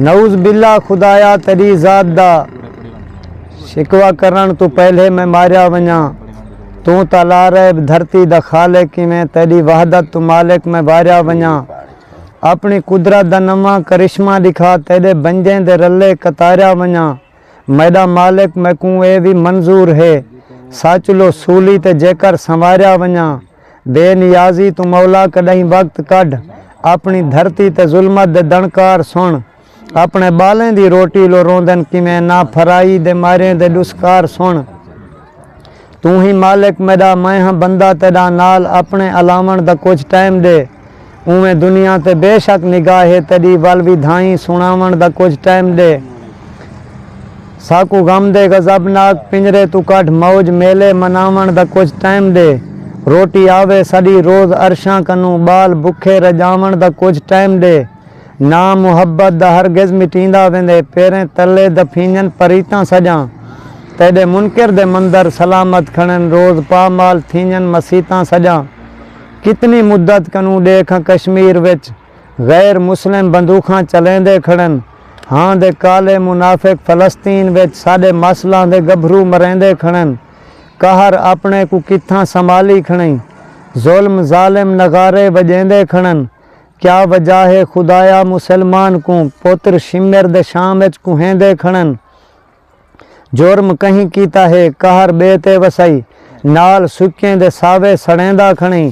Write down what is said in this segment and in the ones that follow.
نعوذ باللہ خدایا تیڈی ذات دا شکوہ کرنڑ توں پہلے میں ماریا ونجاں توں تاں لا ریب دھرتی دا خالق ایویں تیڈی وحدت توں مالک میں واریا ونجاں اپنی قدرت دا نواں کرشمہ ڈکھا تیڈے بنجیں دے رلے قطاریا ونجاں میڈا مالک میکوں اے وی منظور ہے ساچلو سولی تے جیکر سنواریا ونجاں۔ بے نیازی توں مولا کݙاہیں وقت کڈھ اپݨی دھرتی تے ظلمت دے دݨکار سݨ اپݨے ٻالیں دی روٹی لو روندن کیویں نا پھرائی دے ماریں دے ݙسکار سݨ توں ہی مالک میݙا میں ہاں بندہ تیݙا نال اپݨے الاوݨ دا کجھ ٹائم ݙے اونویں دنیا تے بے شک نگاہ ہے تیݙی ول وی دھائیں سݨاوݨ دا کجھ ٹائم ݙے ساکوں غم دے غضب ناک پنجرے توں کڈھ موج میلے مناوݨ دا کجھ ٹائم ݙے روٹی آوے ساݙی روز عرشاں کنوں ٻال بکھے رڄاوݨ دا کجھ ٹائم ݙے ناں محبت دا ہرگز مٹیندا ویندے پیریں تلے دفینجن پریتاں سڄاں تیݙے منکر دے مندر سلامت کھڑن روز پا مال تھینجن مسیتاں سڄاں کتنی مدت کنوں ڈیکھاں کشمیر وچ غیر مسلم بندوخاں چلیندے کھڑن ہاں دے کالے منافق فلسطین وچ ساڈے ماسلاں دے گبھرو مریندے کھڑن قہر اپنے کوں کتھاں سنبھالی کھڑیں ظلم ظالم نغارے وجیندے کھڑن کیا وجہ ہے خدایا مسلمان کوں پتر شمر دے شام وچ کوہیندے کھڑن جرم کہیں کیتا ہے قہر ٻئے تے وسائی نال سکیں دے ساوے سڑیندا کھنڑیں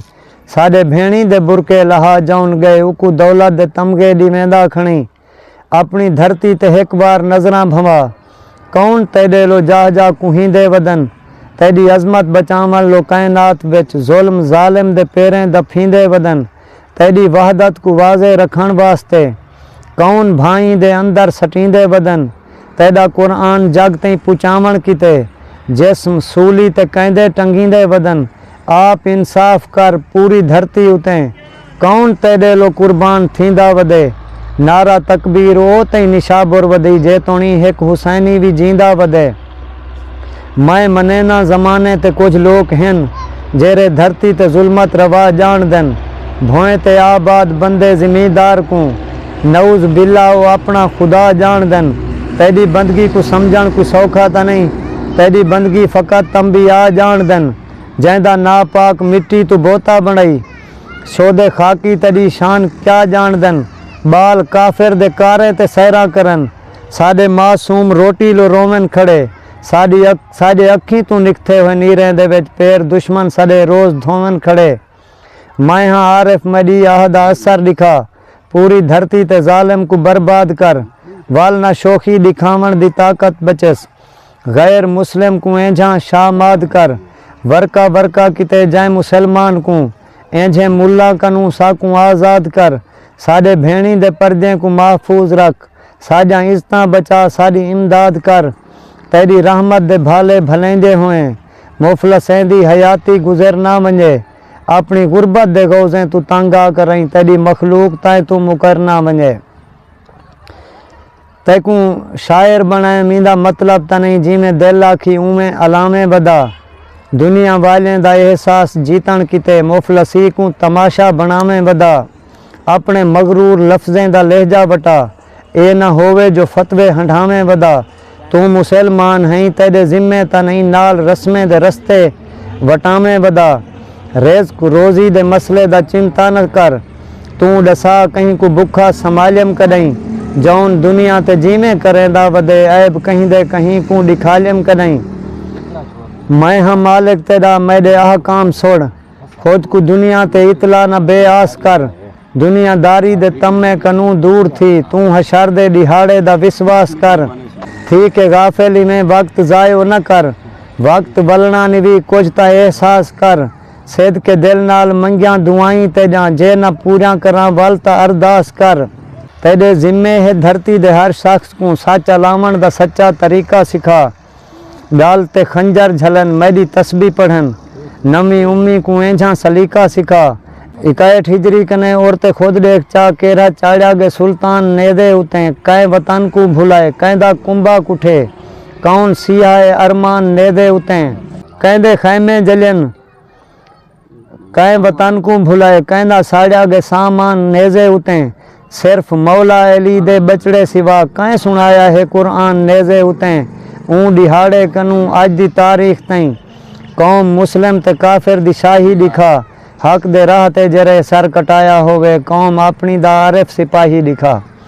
ساݙے بھیݨیں دے برقعے لہا جاون ڳئے اوکوں دولت دے تمغے ݙیویندا کھنڑیں اپݨی دھرتی تے ہک وار نظراں بھنوا کون تیݙے لو جاہ جاہ کوہیندے ودن تیݙی عظمت بچاون لو کائنات وچ ظلم ظالم دے پیریں دفیندے ودن تیݙی وحدت کوں واضح رکھݨ واسطے کون بھائیں دے اندر سٹیندے ودن تیݙا قرآن جڳ تئیں پچاوݨ کیتے جسم سولی تے کیندے ٹنگیندے ودن آپ انصاف کر پوری دھرتی اتیں کون تیݙیلو قربان تھیندا ودے نعرہ تکبیر او تئیں نشابر ودی جیتوݨی ہک حسینی وی جیندا ودے۔ میں منیناں زمانے تے کجھ لوک ہن جیرھے دھرتی تے ظلمت روا ڄاݨدن بھوئیں تے آباد بندے زمیندار کوں نعوذ باللہ او اپݨا خدا ڄاݨدن تیݙی بندگی کوں سمجھݨ کوئی سوکھا تاں نئیں تیݙی بندگی فقط انبیاء ڄاݨدن جیندا ناپاک مٹی توں بوتا بݨائی شودے خاکی تیݙی شان کیا ڄاݨدن ٻال کافر دے کاریں تے سیراں کرن ساݙے معصوم روٹی لو روون کھڑے ساݙی اک ساݙے اکھیں توں نکھتے ہوئے نیریں دے وچ پیر دشمن سݙے روز دھوون کھڑے میں ہاں عارف میݙی آہ دا اثر ݙکھا پوری دھرتی تے ظالم کوں برباد کر ول نہ شوخی ݙکھاوݨ دی طاقت بچس غیر مسلم کوں اینجھاں شاماد کر ورقہ ورقہ کیتے جائیں مسلمان کوں اینجھیں ملاں کنوں ساکوں آزاد کر ساݙے بھیݨیں دے پردیں کوں محفوظ رکھ۔ ساݙیاں عزتاں بچا ساݙی امداد کر تیݙی رحمت دے بھالے بھلیندے ہوئیں مفلسیں دی حیاتی گزر نہ ونڄے اپݨی غربت دے غوضیں توں تنگ آ کرئیں تیݙی مخلوق تائیں توں مکر نہ ونڄے تیکوں شاعر بݨائم ایندا مطلب تاں نئیں جیویں دل آکھی اونویں الاویں ودا دنیا والیں دا احساس جیتݨ کیتے مفلسی کوں تماشا بݨاویں ودا۔ اپݨے مغرور لفظیں دا لہجہ وٹا۔ اے نہ ہووے جو فتوے ہنڈھاویں ودا۔ توں مسل مان ہئیں تیݙے ذمے تاں نئیں نال رسمیں دے رستے وٹاویں ودا۔ رزق روزی دے مسئلے دا چنتا نہ کر۔ توں ݙسا کہیں کوں بکھا سمالیم کݙئیں۔ جون دنیا تے جیویں کریندا ودے عیب کہیں دے کہیں کوں ݙکھالیم کݙئیں۔ میں ہاں مالک تیݙا میݙے احکام سݨ۔ خود کوں دنیا تے اطلاع نہ بے آس کر، دنیا داری دے طمع کنوں دور تھی، توں حشر دے ݙیہاڑے دا وسواس کر، تھی کے غافل ایویں وقت ضائع و نہ کر، وقت ولݨا نوی کجھ تاں احساس کر، صدقے دل نال منگیاں دعائیں تیݙاں جے نہ پوریاں کراں ول تاں ارداس کر، تیݙے ذمے ہے دھرتی دے ہر شخص کوں سچ الاوݨ دا سچا طریقہ سکھا، ڳل تے خنجر جھلن میݙی تسبیح پڑھن نویں امی کوں اینجھاں سلیقہ سکھا اکہٹھ ہجری کنیں اور تے خود ݙیکھ چا کیرھا چاڑھیا ڳے سلطان نیزے اتیں کئیں وطن کوں بھلائے کئیں دا کنبہ کٹھے کون سیہائے ارمان نیزے اتیں کئیں دے خیمے جلین کئیں وطن کوں بھلائے کئیندا ساڑیا گئے سامان نیزے اتیں صرف مولا علی دے ٻچڑے سوا کئیں سنڑایا ہے قرآن نیزے اتیں اوں ڈیہاڑے کنوں اج دی تاریخ تئیں قوم مسلم تے کافر دی شاہی ڈکھا حق دے راہ تے جرے سر کٹایا ہووے قوم اپنی دا عارف سپاہی ڈکھا